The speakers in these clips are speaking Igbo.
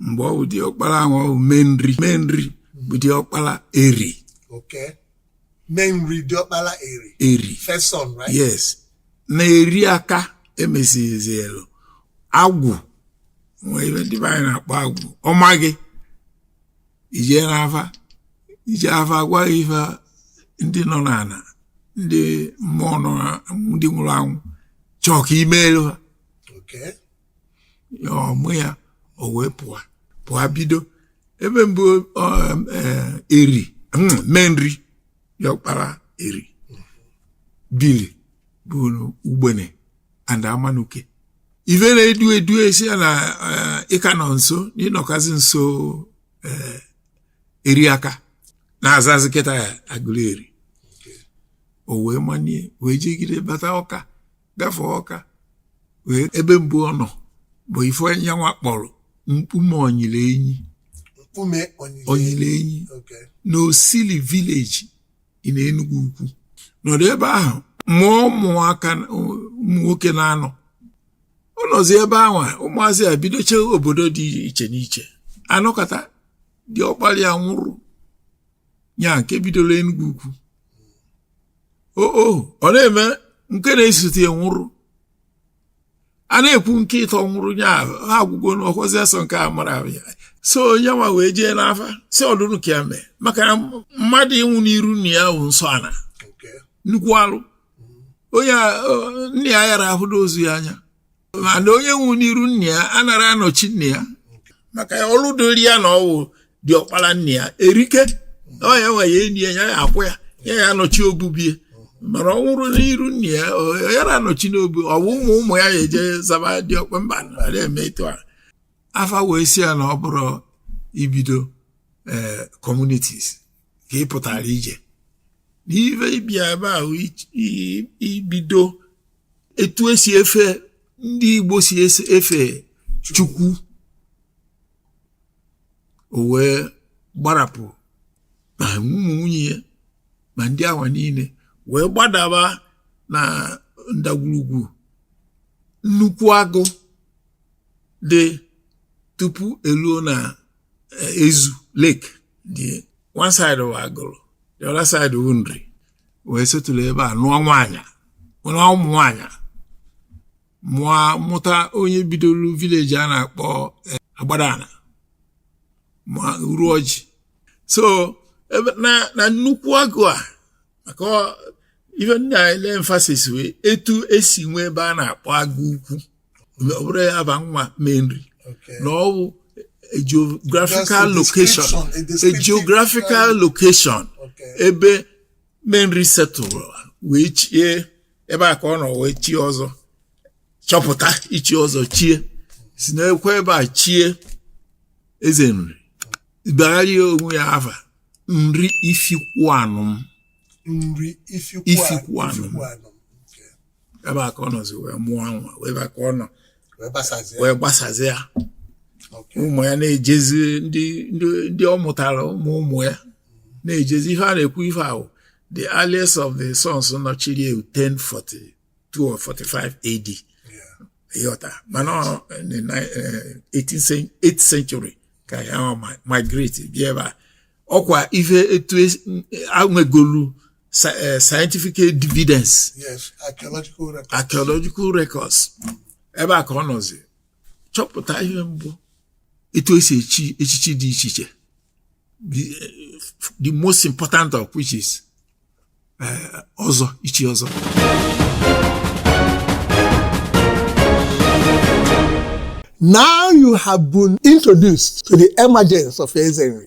mgbe ọ bụ diọkpala ahụ ọ bụ Menri Menri bụ diọkpala Eri okay Menri diọkpala Eri Eri first son right yes na Eriaka emesizielu agwụ nwee ife ndị be anyị na-akpọ agwụ ọ ma gị i jee n'afa i jee afa gwa gị ife ndị nọ n'ana ndị mmụọ nọ na- ndị nwụrụ anwụ chọọ ka i meelu ha okay ọmụ ya o wee pụọ pụọ bido ebe mbụ Eri Menri diọkpala Eri bili bụ Ugbene and Amanuke ife na-edu edu esi ya na ị ka nọ nso na ị nọkazi nso Eriaka na-azazi kịtaa Aguleri o wee manie wee jegide bata Ọka gafee Ọka wee ebe mbụ ọ nọ bụ ife anyịnwa kpọrọ mkpume onyile enyi onyile enyi na Osili village in Enugwu Ukwu nọdụ ebe ahụ mụọ ụmụaka ụmụ nwoke naanọ ọ nọzi ebe ahụ ụmụazị a bidocha obodo dị iche n'iche a nọkata diọkpala ya nwụrụ nya nke bidolu Enugwu Ukwu o o ọ na-eme nke na-esote ya nwụrụ a na-ekwu nke ịtọ nwụrụ nya ha agwụgo n'ọkwazi asọ nke a mara ahụ ya so ya nwa wee jee n'afa sị ọ dụnụ ka ya mee maka na mmadụ ịnwụ n'iru nna ya bụ nsọ ana Okay. nnukwu alụ onye a- ọ, nna ya yara ahụdo ozu ya anya mana onye nwụ n'iru nna ya anara anọchi nna ya maka ya ọlụ dịrị ya na ọ wụ diọkpala nna ya erike ọ ya nwa ya eni ya ya akwa ya ya ya anọchi obu be ya mana ọ nwụrụ n'iru nna ya ọ yara anọchi n'obu ọ bụ ụmụ ụmụ ya ya eje zaba diọkpa mba na eme etu a afa wee sị ya na ọ bụrọ ibido ee eh, communities ka ị pụtara ije n'ife ị bịa ebe a bụ ibido etu esi efe ndị Igbo si efe Chukwu o wee gbarapụ ma ụmụ nwunye ya ma ndị awa niile wee gbadaba na ndagwurugwu nnukwu agụ dị tupu e luo na eh, Ezu lake dị one side bụ Agụlụ the other side bụ Nri wee settle ebe a nụọ nwaanyị nụọ ụmụ nwaanyị mụọ mụta onye bidoro village a na-akpọ eh, Agbadana ma Uruọjị so na nnukwu agụ a maka ife m na-elay emphasis wee etu esi nwee ebe a na-akpọ Agụ Ukwu ọ bụrọ afa nwa menri na ọ bụ a geographical location a geographical location ebe menri setụrụ wee chie ebe a ka ọ nọ wee chie ọzọ chọpụta ichi ọzọ chie si n'ekwe ebe a chie eze nri bagharịa onwe ya afa nri ifikwuanịm nri ifikwuanịm ebe a ka ọ nọzi wee mụọ nwa wee ebe a ka ọ nọ wee gbasazie wee gbasazie ya Okay. ụmụ ya na-ejezi ndị ndị ndị ọ mụtara ụmụ ụmụ ya na-ejezi ihe a na-ekwu ife ahụ the earliest of the sons na ọ chiri eh 1042 or 45 AD Yeah. ị ghọta mana ọ in the ni- eh, 18th cen- 8th century ka ya ọ ma- migrate bịa ebe a ọkwa ife etu es- a nwegolu sci- eh, scientific evidence yes archaeological record archaeological records ebe a ka ọ nọzi chọpụta ihe mbụ etu e si echi echichi dị iche iche the, eh, the most important of which is eh, ọzọ ichi ọzọ now you have been introduced to the emergence of eze nri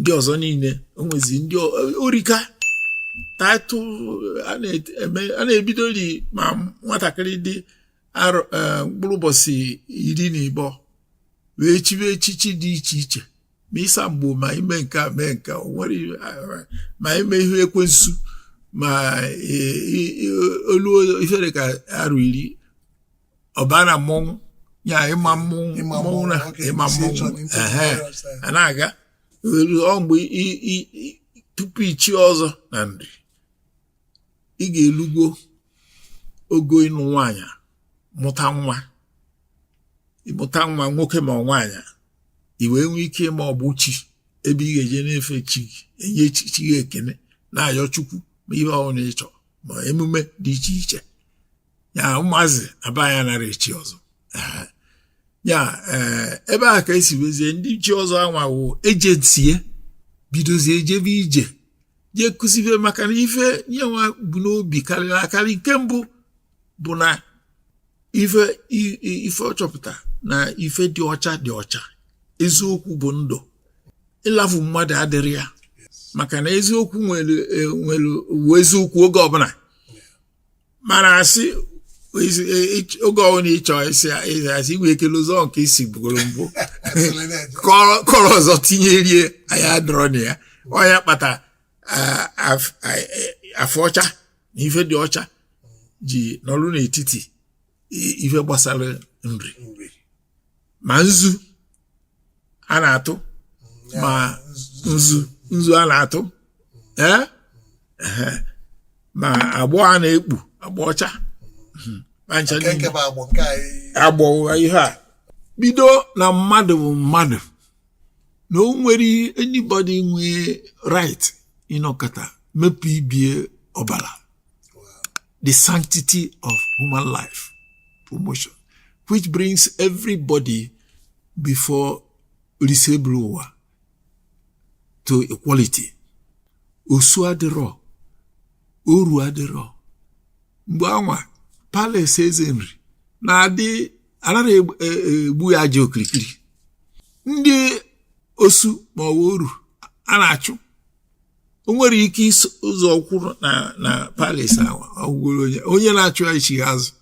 ndị ọzọ niile o nwezi ndị ọ rika title a na-ebido ri ma nwatakịrị dị e, mkpụrụ ụbọchị iri na ịbọ wee chibe echichi dị iche iche ma ịsa mgbo ma ime nke a mee nke nwere ma ime ihe ekwensu ma e, e, o luo ife dị ka arọ iri ọ baa na mmọnwụ ya ịma mmọnwụ Ịma mmọnwụ mmọnwụ, na okay, ịma si ịchọ mmọnwụ n'ịtụ ehe mmọnwụ ọsọ. a na-aga e luo mgbe i- i- i- tupu ichi ọzọ na nri ị ga-elugo ogo ịnụ nwaanyị a, mụta nwa ịmụta nwa nwoke ma nwaanyị i wee nwee ike ịma ọgbụ chi ebe ị ga-eje na-efe chi gị enye chi chi gị ekene na-ayọ chukwu ma ihe ọbụla ị chọrọ ma emume dị iche iche ya ụmụazị aba ya nara echi ọzọ ya eh, ebe a ka e si wezie ndị chi ọzọ anwawo agency bidozie ejebe ije jee kụzibe maka na ife onye nwa bu n'obi karịrị akarị nke mbụ bụ na ife ife ọ chọpụta na ife dị ọcha dị ọcha eziokwu bụ ndụ ịlafu mmadụ adịrọ ya maka na eziokwu nwere e, eziokwu oge ọbụla mana asị oge ọbụla ị chọ ịsị asị inwe ike n'ụzọ nke i si bugoro mbụ kọrọ ọzọ tinyerie anya adịrọ na ya ọ ya kpata afọ ọcha na ife dị ọcha ji nọrụ n'etiti i- ife gbasara nri nri ma nzu a na-atụ ma nzu nzu a na-atụ ee ehe. ma agbọ a na-ekpu agbọ ọcha Mhm. Ma ncha nke niile. nke bụ agbọ nke anyị agbọwa ihe a bido na mmadụ bụ mmadụ na o nwere anybody nwee right ịnọkata mepụ ibe ya ọbara the sanctity of human life promotion which brings everybody before Oriseburuwa to equality osu adịrọ oru adịrọ mgbe anwa palace eze nri na-adị anaghị e, e, egbu ya aja okirikiri ndị osu ma ọ bụ oru a na-achụ o nwere ike iso ụzọ kwụrụ na na palace awa ọgwụgworo onye onye na-achụ ya ichi azụ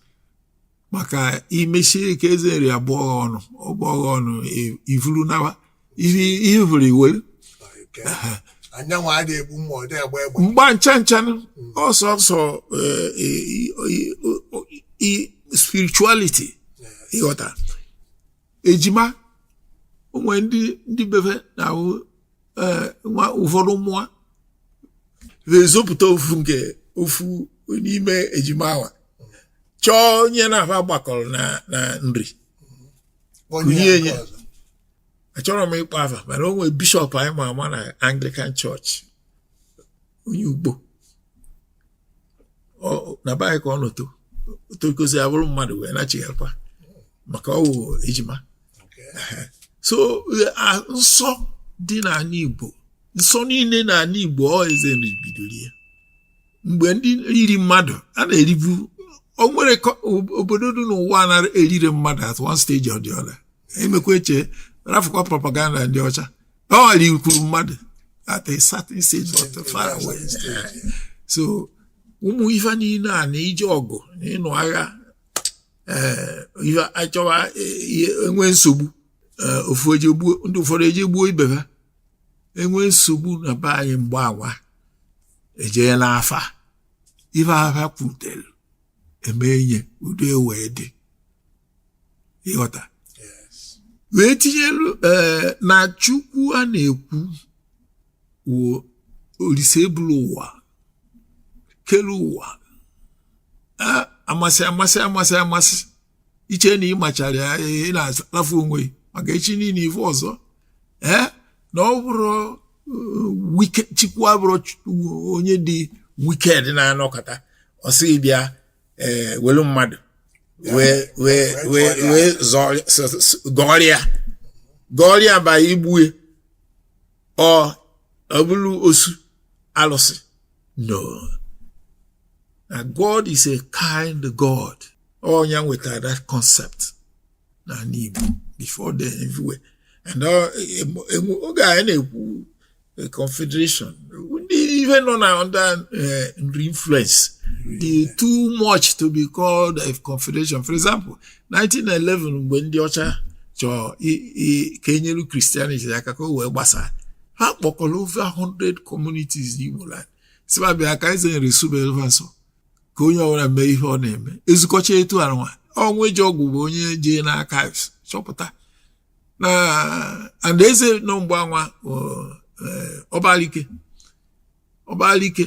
maka imechie ka eze nri abụọ gha ọnụ ọgbọ gha ọnụ i- ivuru nawa ihe ihe vụrụ iwere Nke a. anyịnwa adịghị egbu mma ọ dịghị agba egbe mba ncha ncha ọ sọọsọ eh, i- i- i- o- i- spirituality ị ghọta ejima o nwe ndị ndị be fa na-awụ eh, nwa ụfọdụ mụọ fa ezopụta ofu nke ofu n'ime ejima awa chọọ onye na-afa gbakọrọ na nri kunye enye achọrọ m ịkpọ afa mana o nwere bishop anyị ma ama na Anglican church onye ugbo na be anyị ka ọ nọ too tokozi abụrụ mmadụ wee nachighakwa maka ọ wụ ejima so nsọ dị n'ala Igbo nsọ niile n'ala Igbo ọ eze nri bidoro ya mgbe ndị riri mmadụ a na-eribu o nwere obodo dị n'ụwa na-erire mmadụ at one stage or the other emekwa eche rafụkwa propaganda ndị ọcha o rikwuru mmadụ at a certain stage not far away so ụmụ ife niile a na ije ọgụ na ịnụ agha eh, ife achọwa eh, enwe nsogbu eh, ofu eje gbuo ndị ụfọdụ eje gbuo ibe ha enwe nsogbu na be anyị mgbe awa ejee n'afa ife afa kwutere eme enye udo ewee dị ịghọta wee tinyelu eh, na chukwu a na-ekwu wụ olise ebulu ụwa kelu ụwa a amasị amasị amasị amasị i chee na ịmachara ya ị na-alafu onwe gị maka echi niile ife ọzọ ee na ọ bụrọ wike Chukwu abụrọ onye dị wicked na-anọkata ọ sị gị bịa ee welu mmadụ wee wee wee wee zọọ- s- s- gọọrịa gọọrịa by igbu e or ọ bụrụ osu alụsị no na god is a kind god onye wetara that concept n'ala Igbo before then everywhere and uh, oge anyị na-ekwu uh, confederation ndị ife nọ na under uh, nri influence dị too much to be called a confederation for example 1911 mgbe ndị ọcha chọọ ka e nyere Christianity aka ka o wee gbasaa ha kpọkọrọ over 100 communities n'Igbo land sị va bịa ka Eze Nri sụbelu va nsọ ka onye ọbụla mee ihe ọ na-eme ezukọcha etu anwa Onwuejeogwu bụ onye jee na archives chọpụta na and eze nọ mgbe anwa ọbalike eh, ọbalike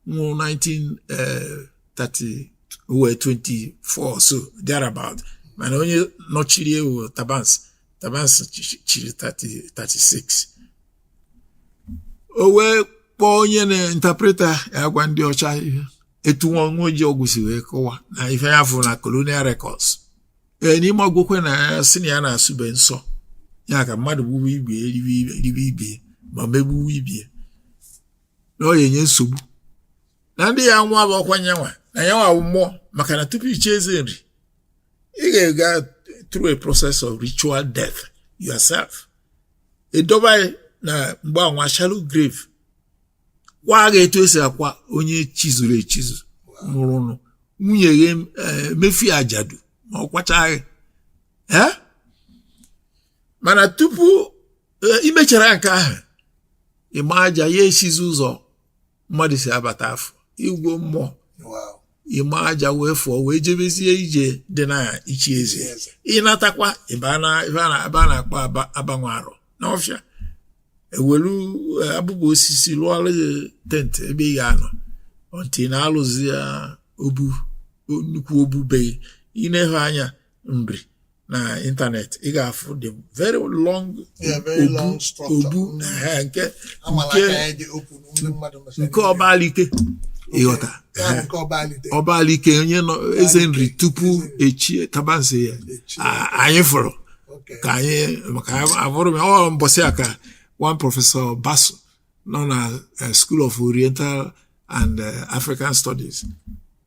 nwụrụ 1930 eh 24 so thereabout mana onye nọchiri e wụ Tabansi Tabansi chiri 36 o wee kpọọ onye na-interpreta ya gwa ndị ọcha ihe etu nwa Onwuejeogwu si wee kọwaa na ife ya fụrụ na colonial records ee n'ime akwụkwọ e na ya sị na ya na-asụbe nsọ ya ka mmadụ gbuwe ibe ya ribe ibe ya ma megbuwe ibe ya na ọ ya-enye nsogbu na ndị ya nwa bụ ọkwa ya nwa na ya nwa bụ mmụọ maka na tupu i chie Eze Nri ị ga-aga through a process of ritual death yourself e doba gị na mgbe anwa shallow grave kwaa gị etu e si akwa onye chizuru echizu nwụrụnụ nwunye gị emee ife eh, ajadu ma ọ kwachaa gị eh? mana tupu eh, i mechara nke ahụ ị maa aja ya esizi ụzọ mmadụ si abata afụ ị wụ mmụọ ị maa aja wee fụọ wee jebezie ije dị na ichi eze ị natakwa ebe a na-akpọ abanwe arọ n'ọfịa e welu e, abụbọ osisi lụọlụ gị tent ebe ị ga-anọ until ị na-alụzi ya obu nnukwu obu be gị ị nefe anya Nri na ịntanetị ị ga-afụ the very long obu mm. nke nke Ọbalike ịghọta ọbalike onye nọ eze nri tupu e chie Tabansi ya anyị fụrụ ka anyị maka abụrụ m ọ mbọsị a ka one Professor Basu nọ na eh, School of Oriental and eh, African Studies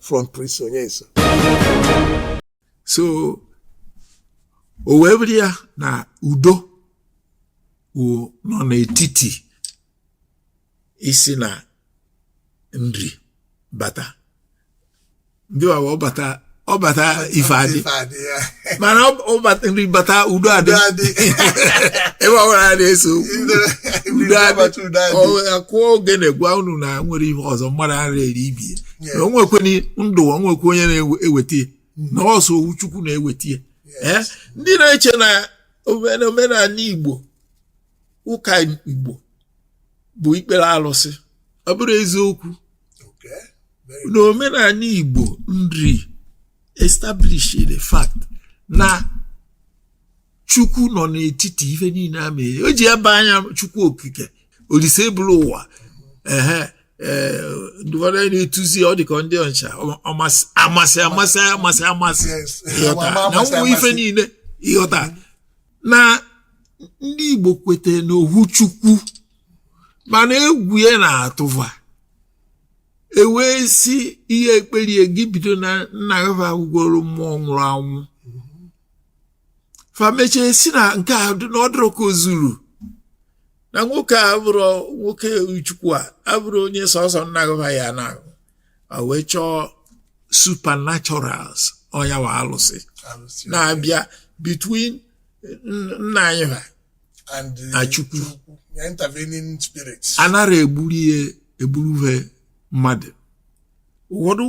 from Prince Onyeso so o wee bụrụ ya na udo nọ n'etiti e sị na nri bata ndị wawa ọ bata ọ bata ife adị mana ọ bata nri bata udo adị ebe ọbụla a na-eso udo adị a kụọ ogene gwa unu na e nwere ihe ọzọ mmadụ ara eri ibe ya na o nwekwe na ndụ o nwekwe onye na-eweta ya na ọ sọ ohu chukwu na-eweta ya ee ndị na-eche na omen- omenala igbo ụka igbo bụ ikpere alụsị ọ bụrọ eziokwu Okay. Very na omenala igbo nri establish the fact na chukwu nọ n'etiti ife niile a mee e ji aba ya chukwu okike olise buru ụwa ehe eh, ndị ụfọdụ anyị na-etuzi ọ dịka ndị ọcha amasị ịghọta na ụmụ ife niile ịghọta na ndị Igbo kwete n'ohu Chukwu mana egwu ya na-atụ va e wee sị i je ekpere gị bido na nna gị va bụgoro mmụọ nwụrụ anwụ fa mechie sị na nke a dị na ọ dịrọ ka o zuru na nwoke a bụrụ nwoke chukwu a abụrọ onye sọsọ nna gị va ya na wee chọọ supernaturals ọ ya wụ alụsị na-abịa between nna anyị fa na chukwu anara egburu he mmadụ ụfọdụ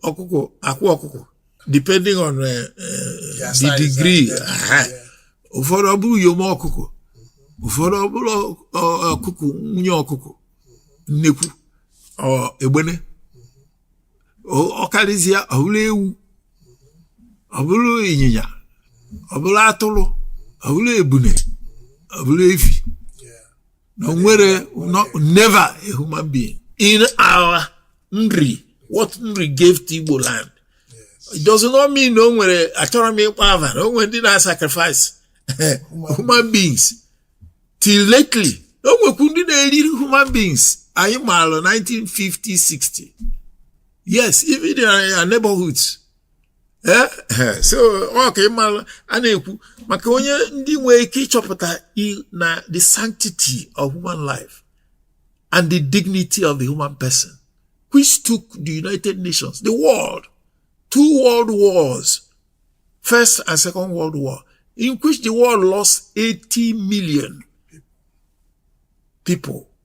ọkụkọ akwa ọkụkọ depending on uh, uh, the degree ụfọdụ ọ bụrụ uyom ọkụkụ ụfọdụ ọ bụrụ ọkụkụ nwunye ọkụkụ nnekwu egbene ọ karịzịa ọ bụrụ ewu ọ bụrụ ịnyịnya ọ bụrụ atụrụ ọ bụrụ ebune ọ bụrụ efi na o nwerọ never a human being in our nri what nri gave to Igbo land it does not mean na o nwerọ achọrọ m ịkpọ ava na o nwerọ ndị na-sacrifice human beings till lately o nwekwu ndị na-eri human beings anyị maara 1950 60 yes even in our neighborhoods ee eh, so ọ ka ị mara a na-ekwu maka onye ndị nwee ike ịchọpụta na the sanctity of human life and the dignity of the human person which took the United Nations the world two world wars first and second world war in which the world lost 80 million people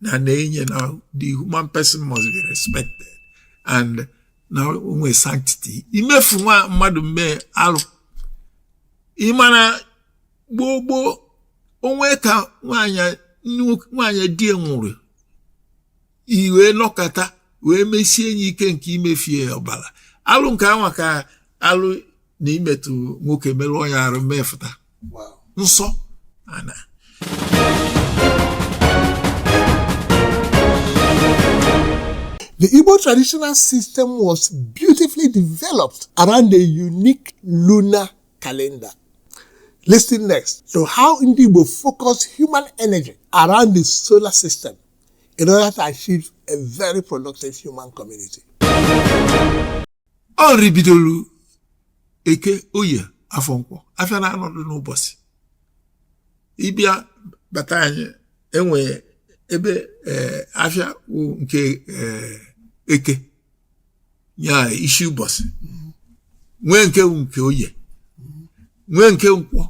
na na-enye na the human person must be respected and na o nwe sanctity imefu nwa mmadụ mmee alụ ị ma na gboo gboo o nwe ka nwaanyị di ye nwụrụ i wee nọkata wee mesie nye ike nke imefu ye ọbara alụ nke anwa ka alụ na imetụ nwoke merụọ ya arụ mmefụta nsọ ana The Igbo traditional system was beautifully developed around a unique lunar calendar. Listen next to how Ndi Igbo focus human energy around the solar system in order to achieve a very productive human community. ọ Nri bidoro eke oye afọ nkwọ afịa na anọ dụ n'ụbọchị ị bịa bata anyị enwe ebe eh, afịa wụ nke eh, eke ya isi ụbọchị nwee nke wụ nke oye nwee nke nkwọ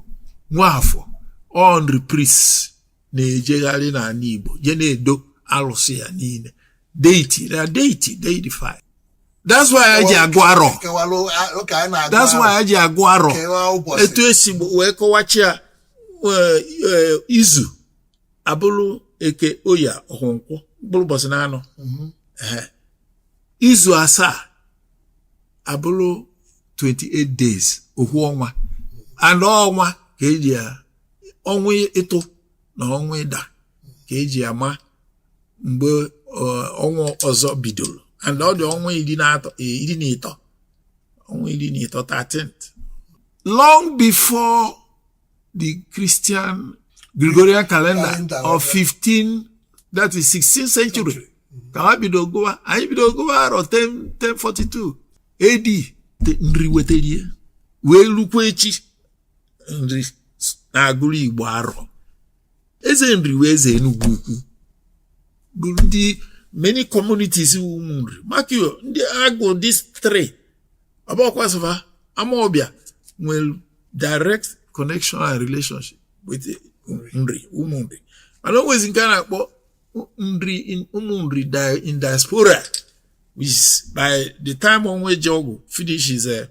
nwee afọ ọ Nri priest na-ejegharị n'ala Igbo je na-edo alụsị ya niile deity na deity deify that's why anyị ji agụ arọ that's why anyị ji agụ arọ etu esi wee kọwachi ya e, e, izu abụrụ eke oye ahọ nkwọ bụrụ ụbọchị na anọ mhm. izu asaa abụrụ 28 days ohu ọnwa and ọnwa ka eji ya ọnwa ịtụ na ọnwa ịda ka eji ama mgbe ọnwa ọzọ bidoro and ọ dị ọnwa iri na ịtọ ọnwa iri na ịtọ 13 long before the Christian Gregorian calendar of 15 that is 16th century ka ha bido gụwa anyị bido gụwa arọ 1042 AD Nri wetara ya wee lukwa echi nri na-agụrụ igbo arọ eze nri wee eze enugwu ukwu bụ ndị many communities ụmụ nri maka ọ ndị agụ these three ọ bụkwasị fa amaọbịa nwere direct connection and relationship with nri ụmụ nri mana o nwezi nke a na-akpọ nri ụmụ nri in diaspora which by the time onwejeogwu finishes eh,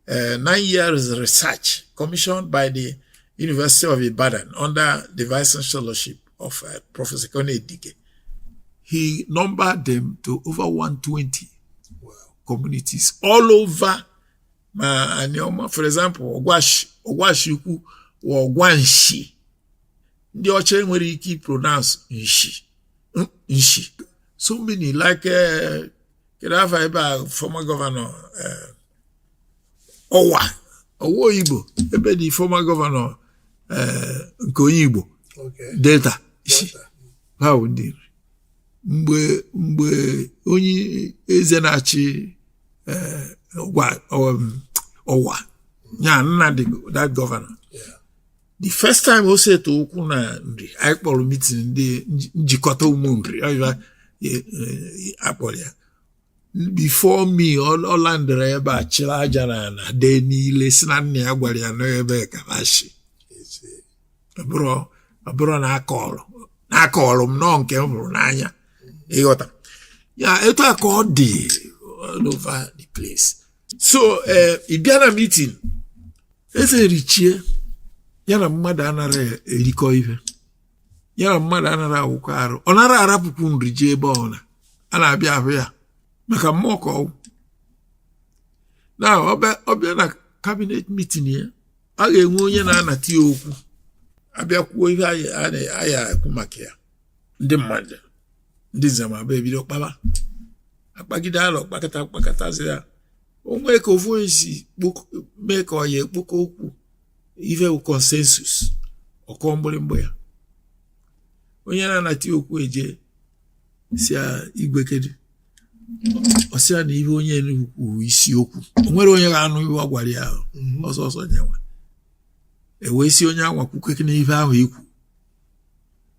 uh, nine years research commissioned by the University of Ibadan under the vice chancellorship of uh, Professor Kone Dike. He numbered them to over 120 wow. communities all over ma Anioma, for example, Ogwashi, Ogwashi Ukwu, or Ogwanshi. Ndị ọcha nwere ike pronounce nshi, nshi. So many like uh, kedu afa ebe a former governor eh, ọwa ọwa oyigbo ebe the former governor eh, nke onye igbo delta isi ha bụ ndị nri mgbe mgbe onye eze na-achị eh, ọwa ya na that governor the first time o seta ụkwụ na nri anyị kpọrọ meeting ndị njikọta ụmụ nri e, e, a kpọrọ ya before me ọ landịrị ebe a chịrị aja na ana dee niile sị na nna ya gwara ya na ebe a ka fa shi ọ bụrọ nke a na-akọlụ m na ọ nke m fụrụ n'anya ị ghọta ya etu a ka ọ dị all over the place so eh, ị bịa na meeting eze nri chie ya na mmadụ anara erikọ ife ya na mmadụ anara awụkọ arụ ọ nara arapụkwu nri jee ebe ọna a na-abịa ahụ ya maka mmụọ ka ọ wụ na ọ bịa na cabinet meeting ya a ga-enwe onye na-anata ya okwu a bịa kwuo ife a ya-ekwu maka ya ndị mmadụ ndị nzemabụa ebido kpaba akpagide alọ kpakata kpakatazịa o nwee ka ofu onye si mee ka ọ ya-ekpokọ okwu ife bụ consensus ọ kụọ mgbịrịgba ya onye na-anata okwu eje sị ya igwe kedu ọ sị ya na ihe onye nụ kwuru isi okwu o nwere onye ga-anụ ihe ọ gwara ya mhm. ọ sọsọ nya nwa e wee sị onye anwa kwukene ife ahụ i kwu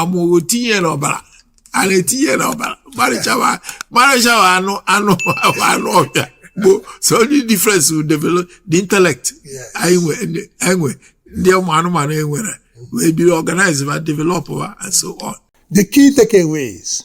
amụghị tinye n'ọbara a na-etinye n'ọbara marịchawa marịchawa anụ anụ anụ ọbịa gboo so only difference will develop the intellect anyị nwe ndị- anyị nwe ndị ụmụ anụmanụ e nwere wee biri organize ma develop ha and so on The key takeaways